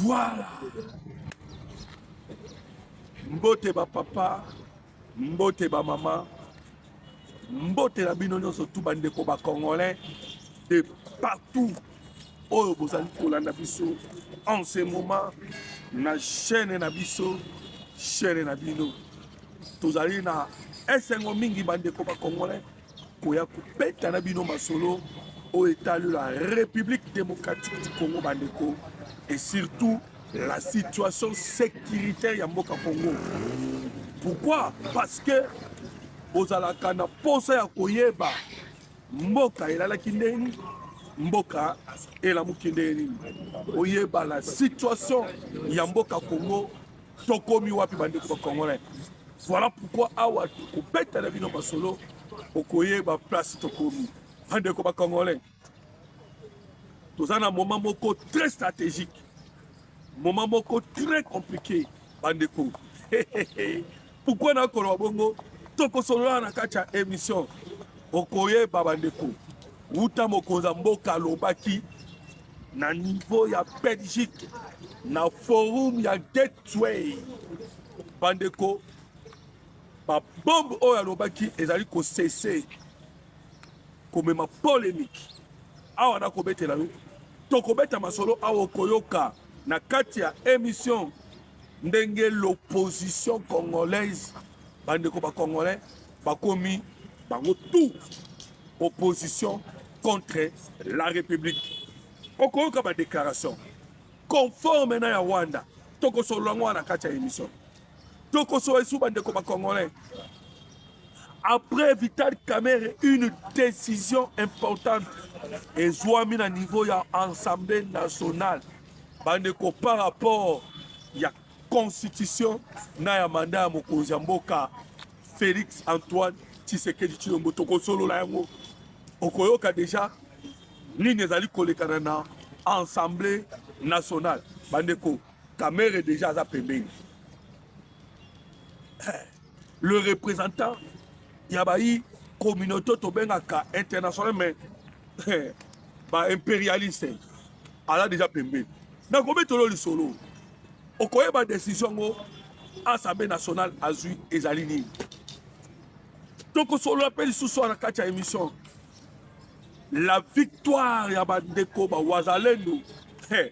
Voilà. Mbote ba papa, mbote ba mama, mbote na bino nyonso tu bandeko ba congolais de partout oyo bozali kolanda biso en ce moment na chaîne na biso chaîne na bino tozali na esengo mingi bandeko ba congolais koya kobeta na bino masolo oyo etali la république démocratique du congo bandeko et surtout la situation sécuritaire ya mboka congo pourquoi parce que bozalaka na mposa ya koyeba mboka elalaki ndenge nini mboka elamuki ndenge nini oyeba la situation ya mboka congo tokomi wapi bandeko ba congolais voilà pourquoi awa tokobeta na bino masolo okoyeba place tokomi bandeko ba congolais toza na moment moko très stratégique moment moko très compliqué bandeko Pourquoi na koloba bongo tokosolola na kati ya emission okoyeba bandeko wuta mokonzi ya mboka alobaki na niveau ya belgique na forum ya gateway bandeko babombe oyo alobaki ezali kosese komema polemike awa nakobetela yo tokobeta masolo awa okoyoka na kati ya emission ndenge l'opposition congolaise bandeko bacongolais bakomi bango tout opposition contre la république okoyoka badéclaration conforme na ya rwanda tokosolola yango wana kati ya émission tokosolola esu bandeko bacongolais après vital camere une décision importante ezwami na niveau ya assemblée nationale Bandeko par rapport ya constitution na ya mandat ya mokonzi ya mboka Felix Antoine Tshisekedi Tshilombo tokosolola yango okoyoka deja nini ezali kolekana na assemblée nationale bandeko kamere deja aza pembeni eh, le représentant ya bayi communauté tobengaka international mais eh, ba impérialiste aza déjà pembeni nakobetolo lisolo okoyeba décision yango assemblée nationale azwi ezali nini tokosolola mpe lisusu wana kati ya émission la victoire ya bandeko bawazalendo hey.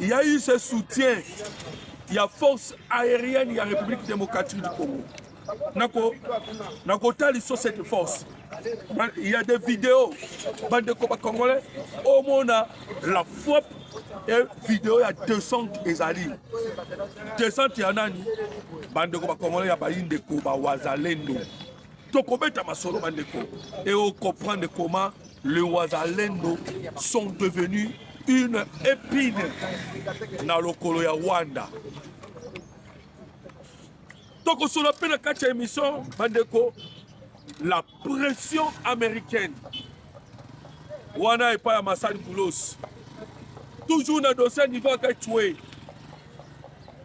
Il y a eu ce soutien ya force aérienne ya République démocratique du Congo. Nako nako tali sur cette force. Il y a des vidéos bande de combat congolais au monde la frappe et vidéo ya descente ezali. Descente ya nani? Bande de combat congolais ya bayi ndeko ba wazalendo. tokobeta masolo bandeko et au comprendre comment le wazalendo sont devenus une épine na lokolo ya rwanda tokosolo mpe na kati ya émission bandeko la pression américaine wana epai ya masali boulos toujours na dossier niveau akachue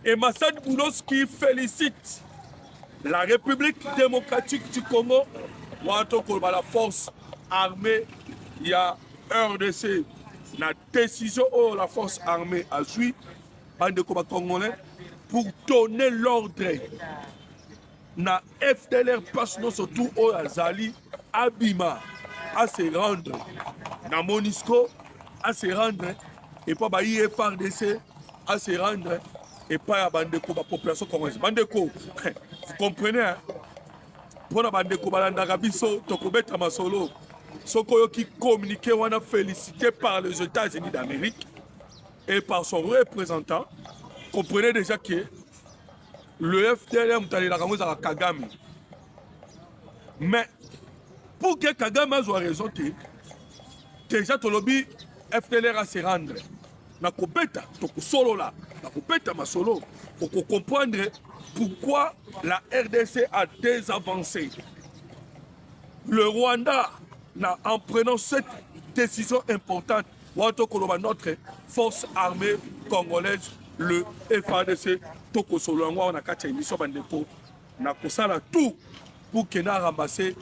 et masali boulos qui félicite la République démocratique du Congo wana tokoloba la force armée ya RDC na décision oyo la force armée azwi bandeko bacongolais pour donner l'ordre na FDLR place nyonso tout oyo azali abima à se rendre na Monisco à se rendre epa bayi ye fardc a se rendre epai ya bandeko ba population congolaise bandeko vous comprenez hein? mpo na bandeko balandaka biso tokobeta masolo soki oyoki communiqué wana félicité par les états-unis d'amérique et par son représentant comprenez déjà que le fdr moto alelaka yango ezalaka kagame mais pour que kagame azwa raison te deja tolobi fdr ase rendre na kobeta tokosolola na kobeta masolo okokomprendre pourquoi la rdc a désavancé le rwanda na, en prenant cette décision importante Wana tokoloba notre force armée congolaise le FADC tokosolola yango awa na kati ya emission bandeko na kosala tout pour que na ramasse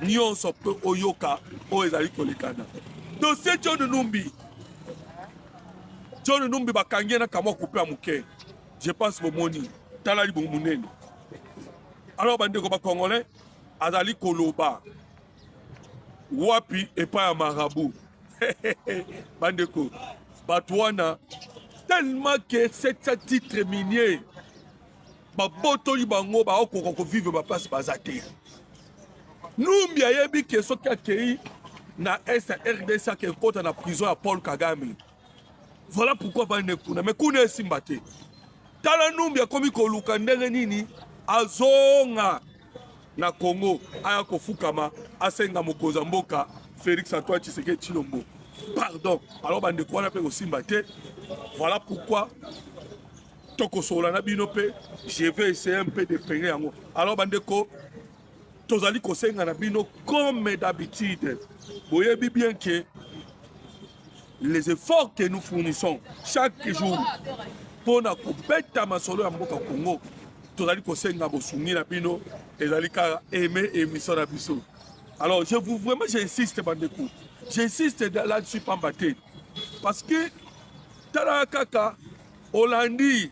nyonso mpe oyoka oyo ezali kolekana dossier John Numbi John Numbi bakangi ye na kamwa kupe ya moke je pense bomoni tala libomo monene alors bandeko bacongolais azali koloba wapi epai ya marabout bandeko bato wana tellement que cette titre minier babotoli bango baokoka kovivre baplace baza te numbi ayebi ke soki akei na est ya rdc ake ekota na prison ya paul kagame voilà pourquoi bande kuna me kuna esimba te tala numbi akomi koluka ndenge nini azonga na Congo aya kofukama asenga mokonzi ya mboka Felix Antoine Tshisekedi Tshilombo pardon. Alors bandeko wana mpe kosimba te, voilà pourquoi tokosolola na bino mpe je vais essayer un peu de peine yango. Alors bandeko tozali kosenga na bino comme d'habitude boyebi bien que les efforts que nous fournissons chaque jour mpo na kobeta masolo ya mboka congo tozali kosenga bosungi na bino ezali kaka aime émission na biso alors je vous vraiment j'insiste bandeko j'insiste là-dessus pamba te parce que tala kaka olandi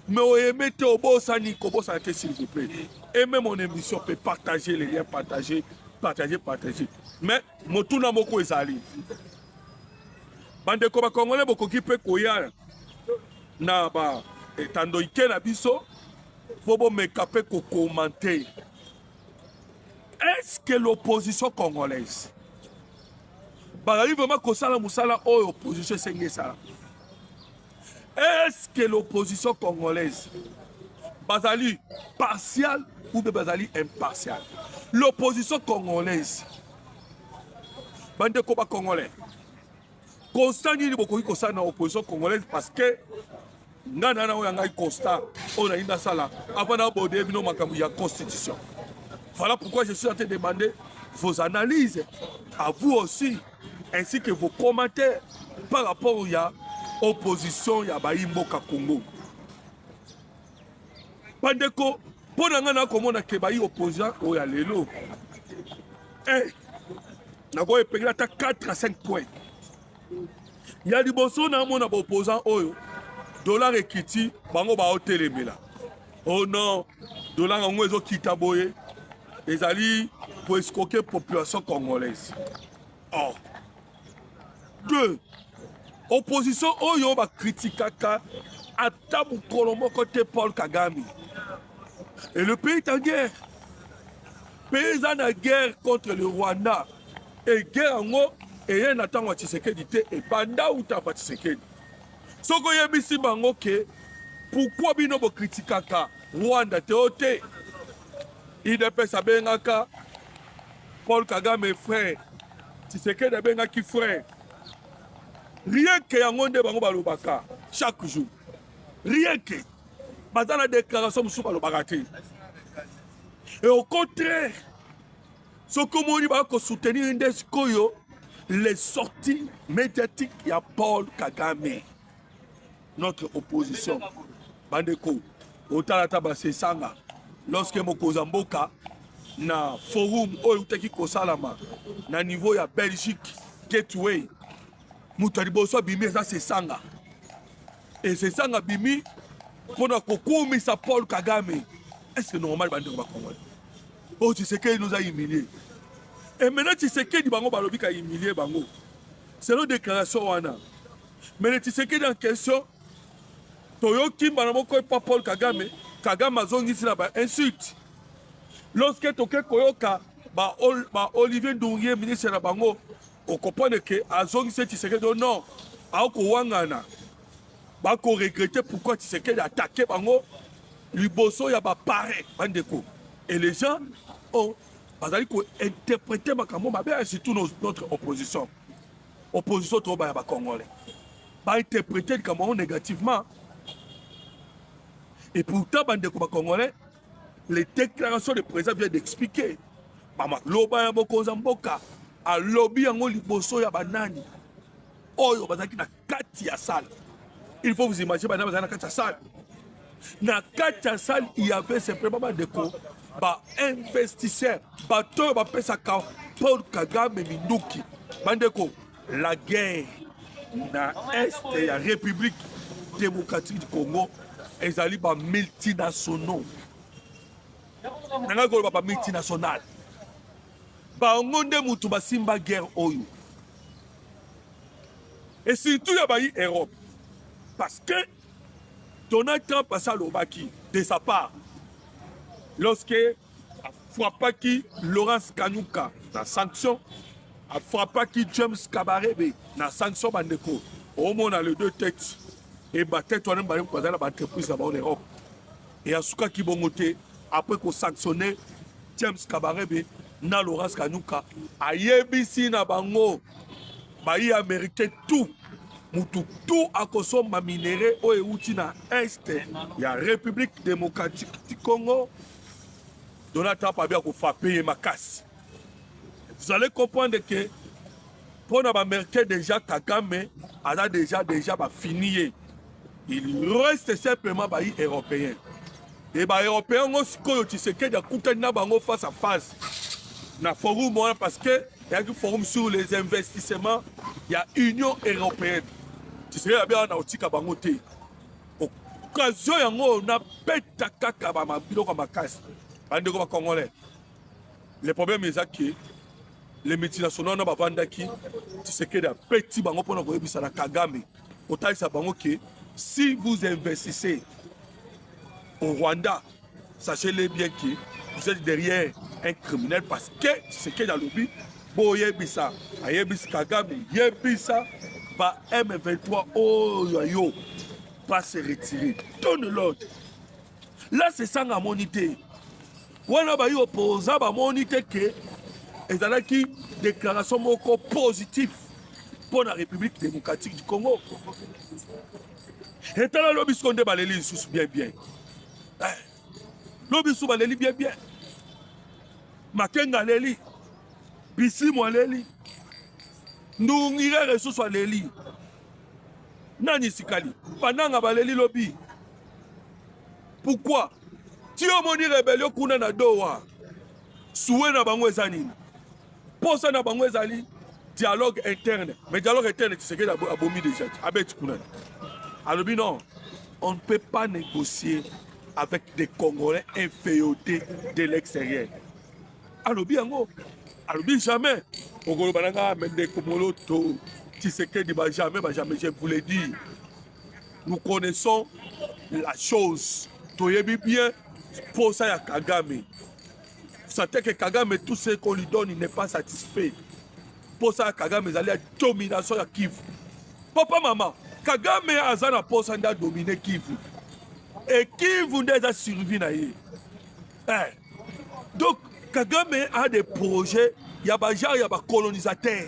mais oyeme te obosani kobosana te s'il vous plaît aime mon émission mpe partager les liens partager partager partager mais motuna moko ezali bandeko bakongole bokoki mpe koya na ba etando ike na biso mpo bomeka mpe kokomante est-ce que l'opposition congolaise bazali vraiment kosala mosala oyo opposition esengi esala Est-ce que l'opposition congolaise bazali partial ou bien bazali impartial? L'opposition congolaise bandeko ba congolais constat nini bokoki kosala na opposition congolaise parce que ngai na yango ya ngai constat oyo nalingi nasala avant nabode bino makambo ya constitution voilà pourquoi je suis en train de demander vos analyses à vous aussi ainsi que vos commentaires par rapport ya opposition ya bayi mboka Congo bandeko mpo na ngai nakomona ke bayi opposant oyo ya lelo eh, nakoki epengela ata 4 à 5 point ya liboso namona baopposant oyo dollar ekiti bango baotelemela Oh non, dollar yango ezo kita boye ezali ko escroquer population congolaise. Oh. Deux, opposition oyo ba critiquaka ata mokolo moko te Paul Kagame. Et le pays est en guerre. Pays eza na guerre contre le Rwanda. Et guerre yango eye na ntango ya Tshisekedi te ebanda uta pa Tshisekedi. Soki oyebisi bango ke pourquoi bino bo critiquaka Rwanda te o te idps abengaka Paul Kagame frère Tshisekedi abengaki frère rien que yango nde bango balobaka chaque jour rien que baza na déclaration mosusu balobaka te et au contraire soki omoni bakosoutenir nde sikoyo les sorties médiatiques ya paul kagame notre opposition bandeko otala ata basesanga lorsque mokonzi ya mboka na forum oyo eutaki kosalama na niveau ya belgique gateway moto ya liboso abimi eza sesanga e sesanga abimi mpo na kokumisa paul kagame est ce normal bandeko bakongoli Oh Tshisekedi nous a humilié. Et maintenant Tshisekedi bango balobi ka humilier bango. Selon déclaration wana. Mais le Tshisekedi en question toyoki mbala moko epa Paul Kagame, Kagame azongisi na ba insulte. Lorsque toke koyoka ba, Ol, ba Olivier Ndurie ministre na bango okomprendre ke azongisi Tshisekedi oh non, akowangana. Bako regretter pourquoi Tshisekedi attaquer bango liboso ya ba parrain bandeko et les gens ont bazali ko interpréter makambo mabe ya surtout nos- notre opposition opposition toba ya ba congolais ba interpréter likambo yango négativement et pourtant bandeko ba congolais les déclarations de président vient d'expliquer mama loba ya mokonzi ya mboka alobi yango liboso ya banani oyo bazalaki na kati ya salle il faut vous imaginer bana bazali na kati ya salle na kati ya salle il y avait simplement bandeko bainvestisseur bato oyo bapesaka paul kagame minduki bandeko la guerre na este ya république démocratique du congo ezali bamultinationaux nangaki koloba bamultinationale bango nde motu basimba guerre oyo et surtout ya bayi Europe parce que Donald Trump asi alobaki de sa part lorsque afrappaki Laurence Kanyuka na sanction afrappaki James Kabarebe na sanction bandeko omona le deux têtes e batete wana mibale bazali na baentreprise na bango na Europe e asukaki bongo te apres kosanctionne James Kabarebe na Laurence Kanyuka ayebisi na bango bayi americain tout mutu tout akosomba minere oyo euti na est ya République démocratique du Congo Donald Trump abi akofape ye makasi vous allez comprendre que mpo na baamericain déjà Kagame aza déjà déjà bafini ye Il reste simplement bayi européens e ba européens ngo sikoyo Tshisekedi akutani na bango face à face na forum wana parce que eyaki forum sur les investissements ya union européenne Tshisekedi abi awa na kotika bango te occasion yango oyo nabeta kaka biloko ya makasi bandeko bacongolais le problème eza ke le multinational wana bavandaki tisekedi apeti bango mpo na koyebisa na kagame kotalisa bango ke si vous investissez au rwanda sachez-le bien que vous êtes derrière un criminel parce que tshisekedi alobi boyebisa ayebisi kagame yebisa ba m23 oyo ya yo va se retirer donne l'ordre la sesanga amoni te wana bayi opoza bamoni te ke ezalaki déclaration moko positif mpo na république démocratique du congo etala lobi siko nde baleli lisusu bien bien eh, lobi lisusu baleli bien bien makenga aleli bisimu aleli ndungirere lisusu aleli nani sikali bananga baleli lobi pourquoi ti omoni rebelio kuna na dowa suwe na bango eza nini mposa na bango ezali dialogue interne mais dialogue interne tisekedi abomi déjà abeti kuna alobi non on ne peut pas négocier avec des congolais inféodés de l'extérieur alobi yango alobi jamais okoloba na ngai mende komoloto tisekedi ba jamais ba jamais je vous le dis nous connaissons la chose toyebi bien posa ya kagame sate ke kagame tout ce qu'on lui donne il n'est pas satisfait posa ya kagame ezali ya domination ya kivu papa mama kagame aza na posa nde adomine kivu e kivu nde eza survie na ye eh. donc kagame a des projets ya bagenre ya bacolonisateur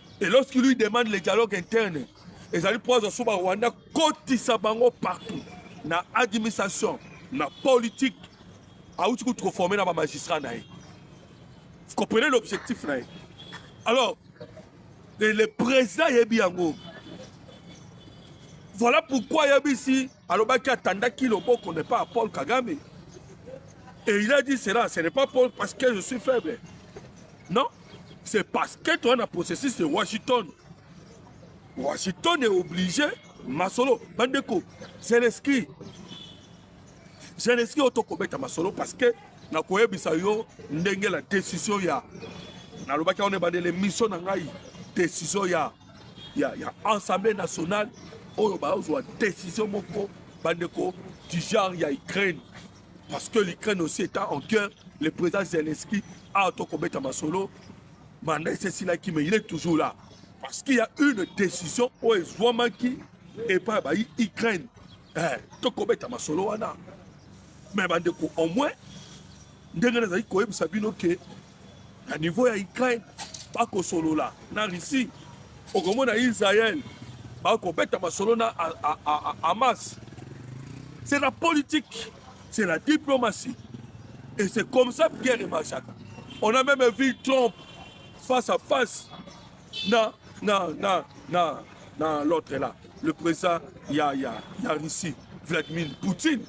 Et lorsqu'il lui demande le dialogue interne, ezali mpo azwa ba Rwanda kotisa bango partout na administration na politique auti kutu koforme na bamagistrat na ye vous comprenez l'objectif na ye alors le, le président ayebi yango voilà pourquoi ayebisi alobaki atandaki loboko ne pas Paul Kagame et il a dit cela ce n'est pas Paul parce que je suis faible non c'est parce que toi na processus de Washington Washington est obligé masolo bandeko Zelensky Zelensky oyo tokobeta masolo parce que nakoyebisa yo ndenge la décision ya nalobaki wana ebandele mission na ngai décision ya ya, ya assemblée nationale oyo bazwa décision moko bandeko du genre ya ukraine parce que l'ukraine aussi étant en guerre le président zelensky awa tokobeta masolo manda esi esilaki mais il est toujours là parce qu'il y a une décision oyo ezwamaki epai ya bayi ukraine eh, tokobeta masolo wana mais bandeko au moins ndenge nazali koyebisa bino ke Na niveau ya Ukraine bakosolola na Russie, okomona Israël bakobeta masolo na Hamas. C'est la politique, c'est la diplomatie. Et c'est comme ça que guerre marchaka. On a même vu Trump face à face na na na na na l'autre là, le président ya ya ya Russie, Vladimir Poutine.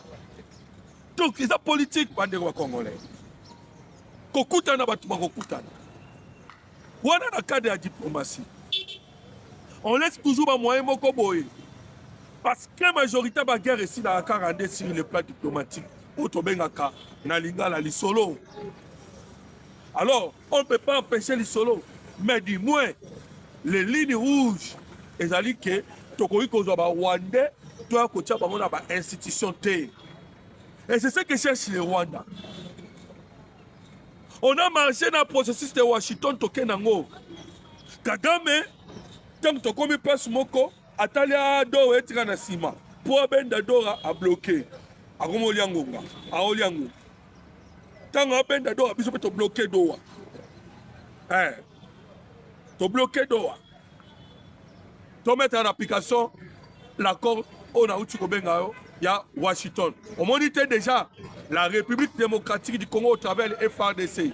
Donc, c'est la politique, bande congolais. kokutana bato bakokutana wana na cadre ya diplomatie on laisse toujours bamoyen moko boye parce que majorité baguerre esilaka kaka nde sur le plan diplomatique oyo tobengaka na lingala lisolo alors on peut pas empêcher lisolo mais du moins les lignes rouges ezali ke tokoki kozwa barwandais toya kotya bango na bainstitution te Et c'est ce que cherche le Rwanda. On a marché dans le processus de Washington Tokenango. Kagame, tant que Tokomi passe Moko, Atalia Doro et Tranasima. Pour Abenda Dora a bloqué. Akomo Liangonga. Ao Liangonga. Tant que Abenda Dora, bisous, bloqué Dora. Eh. To bloquer Doha. To mettre en application l'accord oyo nauti kobenga yo ya Washington. Omoni te déjà la République démocratique du Congo au travers de FRDC.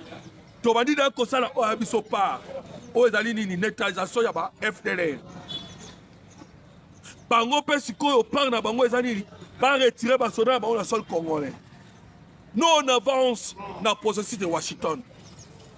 Tobandi na kosala oyo ya biso part oyo ezali nini neutralisation ya ba FDLR. Bango mpe sikoyo part na bango eza nini ba retirer basoda na bango na sol congolais. Nous on avance na processus de Washington.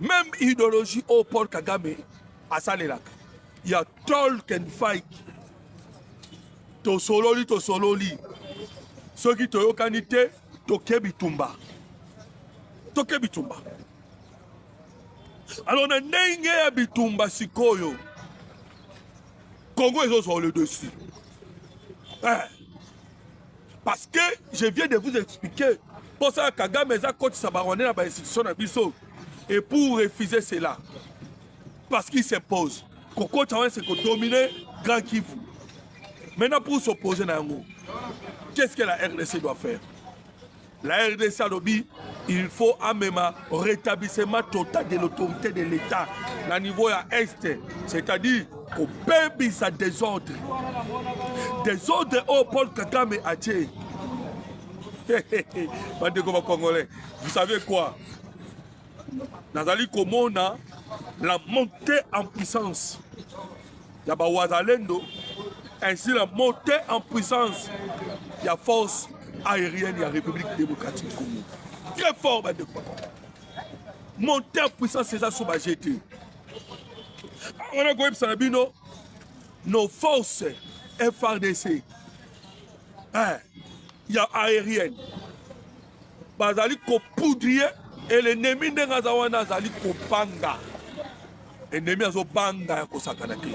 Même idéologie au Paul Kagame asalelaka ya Tolkien Fike tosololi tosololi soki toyokani te toke bitumba toke bitumba alors na ndenge ya bitumba sikoyo Congo ezozwa le dessus eh. parce que je viens de vous expliquer mposa ya kagame eza kotisa barwande na bainstitution na biso et pour refuser cela parce qu'il s'impose kokotisa wana se kodomine grand kivu maintenant pour s'opposer na yango qu'est ce que la rdc doit faire La RDC alobi il faut amema rétablissement total de l'autorité de l'État na niveau ya est, c'est-à-dire kobebisa desordre desordre oyo Paul Kagame atie bandeko bakongolais vous savez quoi nazali komona la montée en puissance ya bawazalendo ainsi la montée en puissance ya force aérienne ya république démocratique congo très fort bandeko montée en puissance eza so baje te wana koyebisa na bino nos forces frdc eh, ya aérienne bazali kopoudre ye et l'ennemi ndenge aza wana azali kobanga ennemi azobanga ya kosakana te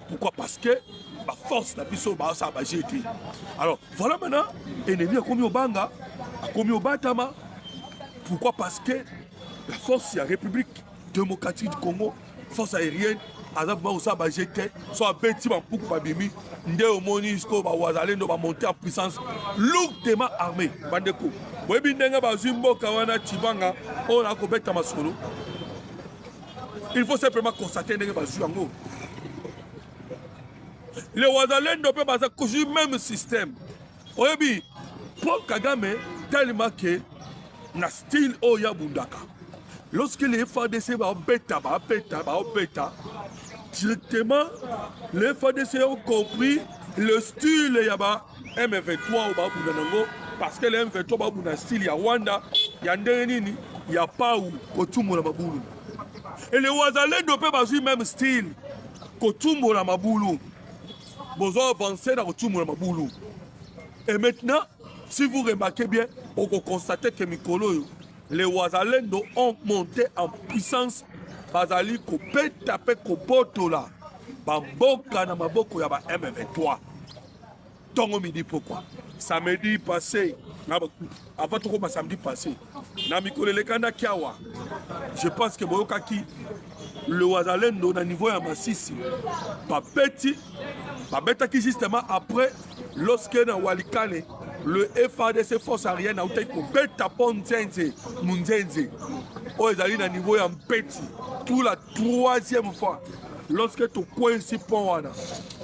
pourquoi parce que baforce na biso baosala baje te alors voilà maintenant ennemi akomi obanga akomi obatama pourquoi parce que la force ya république démocratique du congo force aérienne aza vraimen kosala baje te so abeti bampuku babimi nde omoni sikoyo bawazalendo bamonte en puissance lourdement armé bandeko boyebi ndenge bazwi mboka wana cibanga oyo na kobeta masolo il faut simplement constate ndenge bazwi yango le wazalendo mpe baza kojui même système oyebi paul kagame tellement que na style oyo ya bundaka lorsque les fadc babeta babeta babeta directement les fadc ont compris le style ya ba m23 oyo babunda nango parce que le m23 babunda style ya rwanda ya ndenge nini ya pau kotumola mabulu ele wazalendo mpe bazwi meme style kotumola mabulu bozo avancer na kotumbola mabulu et maintenant si vous remarquez bien okokonstate ke mikolo oyo les wazalendo ont monté en puissance bazali kobeta mpe kobotola bamboka na maboko ya ba m23 ntongo midi pokwa samedi passé avant tokoma samedi passé na mikolo elekandaki awa je pense que boyokaki le wazalendo na niveau ya masisi babeti babetaki justement après lorsque na walikale le fadc force arienne autaki kobeta mpo nzenze munzenze oyo ezali na niveau ya mpeti pour la troisième fois lorsque tokwesi mpo wana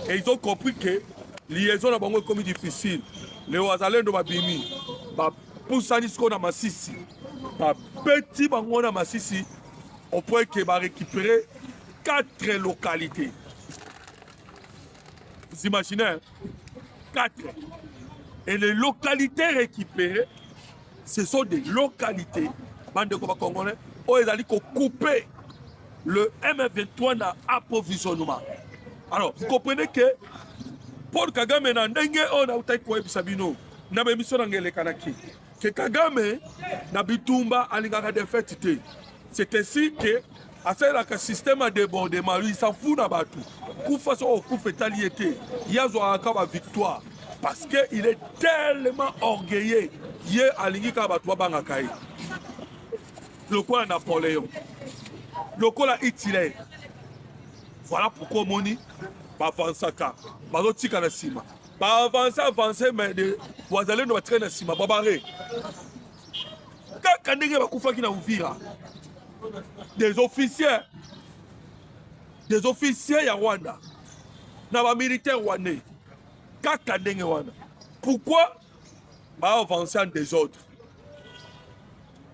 et ils ont compris que liaison na bango ekomi difficile le wazalendo babimi pusani sikoyo na masisi babeti bango na masisi au point que ba récupérer quatre localités vous imaginez hein? quatre et les localités récupérées ce sont des localités bandeko bacongolais oyo ezali kocoupe le m23 na approvisionnement alors vous comprenez que paul kagame na ndenge oyo nautaki koyebisa bino na ba emission nanga elekanaki ke kagame na bitumba alingaka defete te c'est ainsi ke asalelaka système ya debordement lui s'en fout na bato kufa soki okufa etali ye te ye azwaka kaka ba victoire parce que il est tellement orgueilleux ye alingi kaka bato babangaka ye lokola napoléon lokola hitler voilà pourquoi omoni bavansaka bazotika na nsima ba avance avance mais de wazalendo batikali na nsima babare kaka ndenge bakufaki na uvira des officiers des officiers ya rwanda na bamilitaire rwandais kaka ndenge wana pourquoi baavance en desordre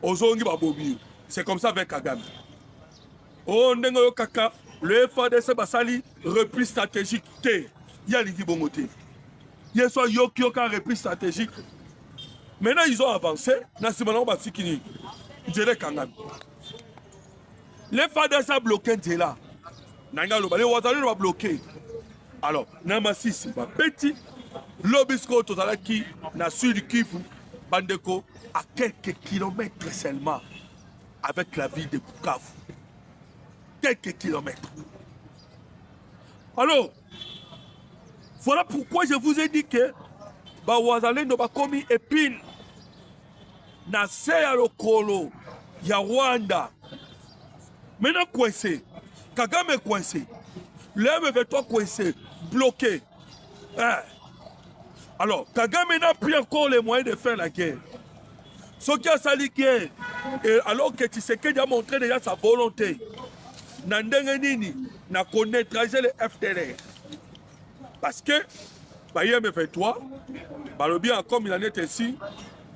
ozongi babobi yo c'est comme ça avec kagame Oh ndenge yo kaka le FADC basali repli stratégique te ye alingi bongo te ye so ayoki yoka repli stratégique maintenant ils ont avancé na nsima nango batiki nini nzela ekangami le FADC abloke nzela nange aloba le wazalelo babloke alors na masisi babeti lobi sikoyo tozalaki na sud kivu bandeko à quelques kilomètres seulement avec la ville de Bukavu. Quelques kilomètres. Alors, voilà pourquoi je vous ai dit que bawazalendo bakomi epine na se ya lokolo ya Rwanda. Maintenant coincé, Kagame coincé, le M23 coincé, bloqué. eh. Alors, Kagame n'a plus encore les moyens de faire la guerre. Ce qui a sali guerre, et alors que Tshisekedi a montré déjà sa volonté, na ndenge nini na connaîtrage le FDLR. Parce que, ba IM23, balobi comme il en est ainsi,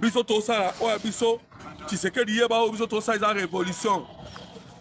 biso tosala oyo biso Tshisekedi yeba oyo biso tosala eza révolution.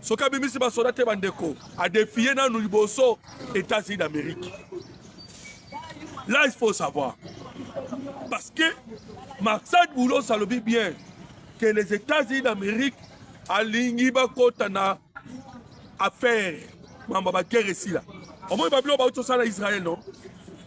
soki abimisi basoda te bandeko adefie nanu liboso etats-unis d'amérique là il faut savoir parce que maxad boulos alobi bien que les états-unis d'amérique alingi bakota na affaire mambo ya baguerre esila omoni babiloko bauti osala israel non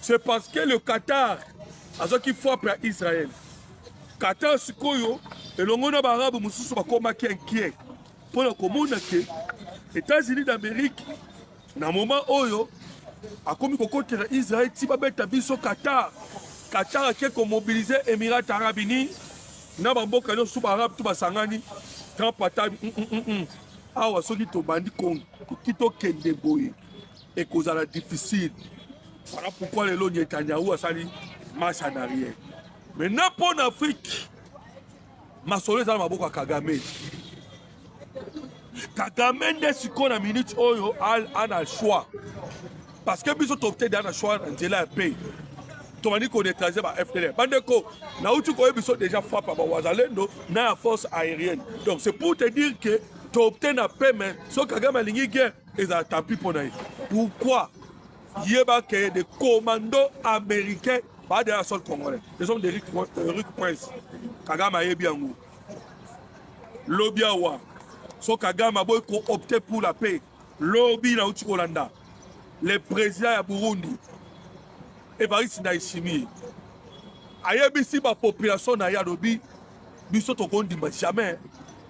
c'est parce que le Qatar azwaki frappe ya Israël Qatar sikoyo elongo na baarabe mosusu bakomaki inquiet mpo na komona ke États-Unis d'Amérique na moment oyo akomi kokotela Israël ti babeta biso Qatar Qatar ake komobilize Emirats Arabes Unis na bamboka nyonso baarabe to basangani Trump atabi mm, mm, mm, awa soki tobandi konki tokende boye ekozala difficile voilà pourquoi lelo netanyahu asali marche en arrière maintenant mpo na afrique masolo eza na maboko ya kagame kagame nde sikoyo na minute oyo ana choix parce que biso topte da na choix na nzela ya pei tobandi koneutralize ba fdl bandeko nauti koyebi biso déjà frappe ya bawazalendo na ya force aérienne donc c'est pour te dire que topte na pe mais soki kagame alingi guerre ezala tapi mpo na ye pourquoi yeba ke de commando américain baada ya sol congolais les hommes de rick, euh, rick prince kagame ayebi yango lobi awa so kagame aboyi koopte pour la paix lobi nauti kolanda le président ya burundi evariste ndayishimiye ayebisi bapopulation na ye alobi biso tokondima jamais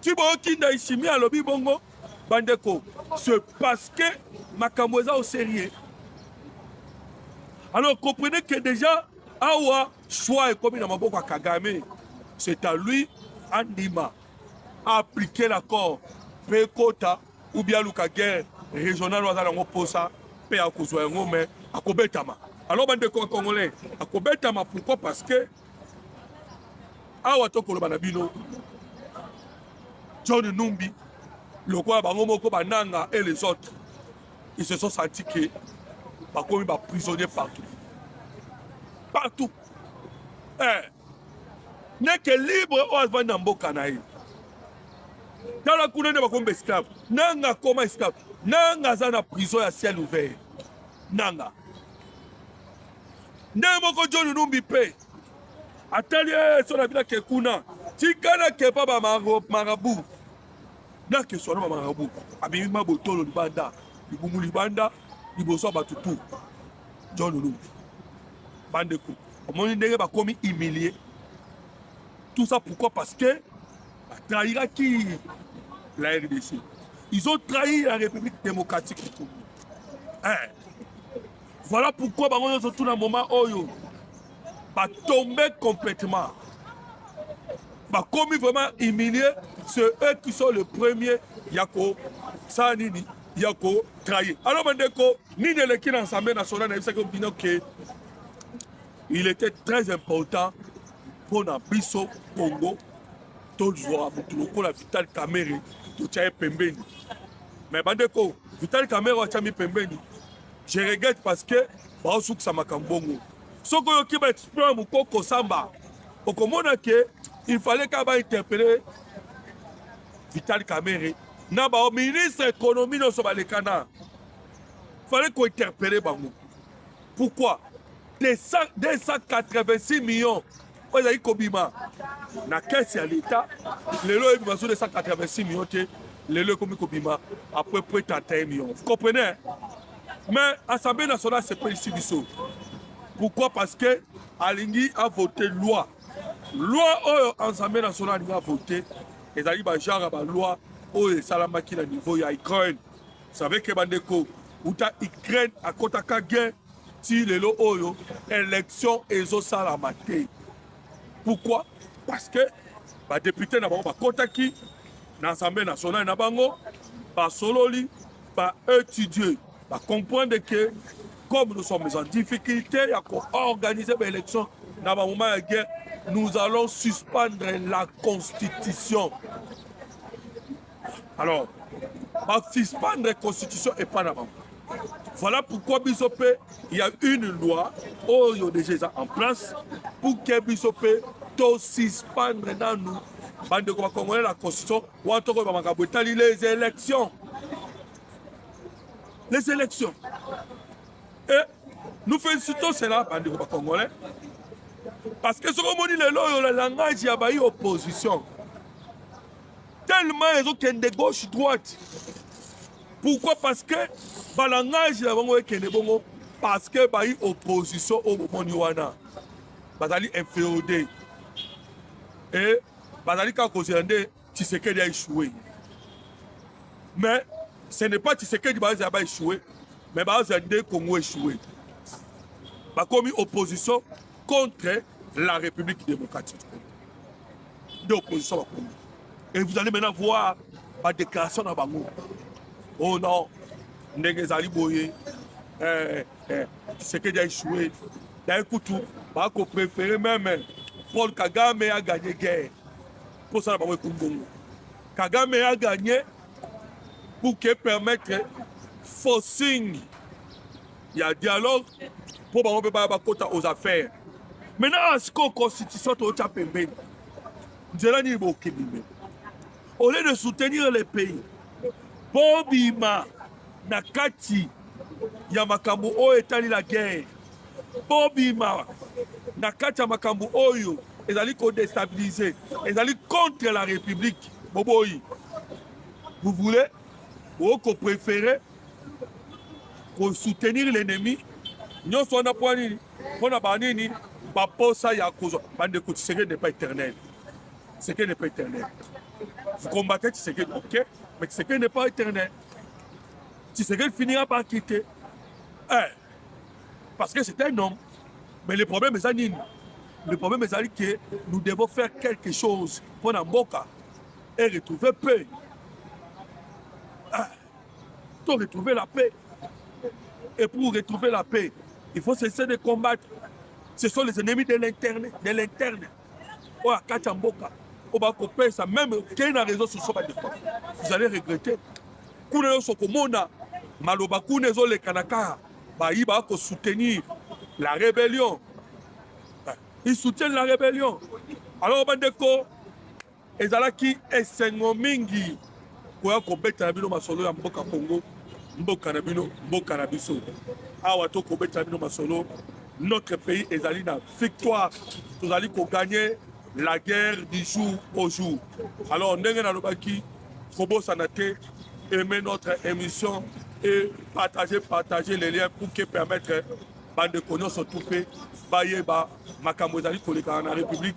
ti boyoki ndaishimi alobi bongo bandeko ce parce que makambo eza au sérieux alors comprenez que déjà awa choix ekomi na maboko ya kagame c'est à lui andima appliquer l'accord mpe ekota ou bien aluka guerre régional aza nango mposa mpe akozwa yango me akobetama alors bandeko ya congolais akobetama pourquoi parce que awa tokoloba na bino john numbi lokola bango moko bananga et les autres ils se sont senti que bakomi baprisonnier partout partout eh. neke libre oyo avandi na mboka na ye tala kuna nde bakomi baesclave nanga akoma esclave nanga aza na prison ya ciel ouvert nanga ndenge moko joni numbi mpe atali eh, so na bino ake kuna tika nakepa bamarabu nakeswa na bamarabu abimi mabotolo libanda libumu libanda liboso ya bato tu john lumbi bandeko omoni ndenge bakomi humilie tout ça pourquoi parce que batrahiraki la rdc ils ont trahi la république démocratique du congo eh. Voilà pourquoi bango nyonso tuna moment oyo ba tomber complètement ba komi vraiment humilié c'est eux qui sont le premier ya ko sala nini ya ko trahir alors bandeko nini eleki na ensemble national nayebisaki bino ke il était très important mpo na biso congo tozwa motu lokola vital kamere totya ye pembeni me bandeko vital kamere watyami pembeni Je regrette parce que baosukisa makambo bongo. Soki oyoki ba exploit ya mokoko samba, okomona ke il fallait ka ba interpeller Vital Kamerhe na ba ministre économie nyonso balekana. Fallait ko interpeller bango. Pourquoi? 286 millions oyo ezali kobima na kese ya leta lelo oyebi bazo 286 million te lelo ekomi kobima apres près 31 million vous comprenez mais assemblée nationale sepelisi biso pourquoi parce que alingi avote loi loi oyo assemblée nationale alingi avote ezali bagenre ya baloi oyo esalamaki na niveau ya ukraine savez que bandeko uta Ukraine akotaka guerre ti lelo oyo élection ezosalama te pourquoi parce que badepute na bango bakotaki na assemblée nationale na bango basololi baétudie bacomprendre que comme nous sommes en difficulté ya koorganiser baélection na bamoment ya guerre nous allons suspendre la constitution alors basuspendre constitution epai na bango voilà pourquoi biso mpe ya une loi oyo déjà eza en place pour ke biso mpe tosuspendre nanu bandeko bakongole la constitution wana tokoyeba makambo etali les élections les élections et nous félicitons cela bandeko bakongolais parce que soki omoni lelo oyo la langage ya bayi opposition tellement ezo kende gauche droite pourquoi parce que balangage na bango ekende bongo parce que bayi opposition oyo bomoni wana bazali inféodé e bazali kaka kozela nde tshisekedi a échoué mais ce n'est pas tshisekedi bazala ba échoué mais bazala nde congo échoué bakomi opposition contre la République démocratique du Congo. Nde opposition bakomi. Et vous allez maintenant voir ba déclaration na bango. Oh non, ndenge ezali boye. Eh, eh, Tshisekedi a échoué. D'ailleurs, kutu, ba ko préférer même eh, Paul Kagame a gagné guerre. Pour ça, ba ko Congo. Kagame a gagné pour que permettre forcing ya dialogue mpo bango mpe baya bakota aux affaires maintenant asiko constitution tootya pembeni nzela nini bokende me au lieu de soutenir le pays bobima na kati ya makambo oyo etali la guerre bobima na kati ya makambo oyo ezali kodestabilise ezali contre la république boboyi vous voulez bokoprefere ko soutenir l'ennemi nyonso wana mpo nini mpo na banini baposa ya kozwa bandeko tshisekedi n'est pas éternel tshisekedi n'est pas éternel vous combattez tshisekedi ok mais tshisekedi n'est pas éternel tshisekedi finira par quitter eh, parce que c'est un homme mais le problème eza nini le problème ezali que nous devons faire quelque chose mpo na mboka et retrouver paix To retrouver la paix. Et pour retrouver la paix, il faut cesser de combattre. Ce sont les ennemis de l'interne, de l'interne. Oyo akati ya mboka, oyo bakopesa meme okei na réseau sociaux bandeko, vous allez regretter. Kuna nyonso okomona maloba kuna ezoleka na kaka bayi bakosoutenir la rébellion. Ils soutiennent la rébellion. Alors bandeko Ezalaki esengo mingi koya kobeta na bino masolo ya mboka Congo, mboka na bino, mboka na biso. Awa to kobeta na bino masolo, notre pays ezali na victoire, tozali ko gagner la guerre du jour au jour. Alors ndenge nalobaki kobosana te aimer notre émission et partager partager les liens pour que permettre bandeko nyonso tu mpe bayeba makambo ezali kolekana na république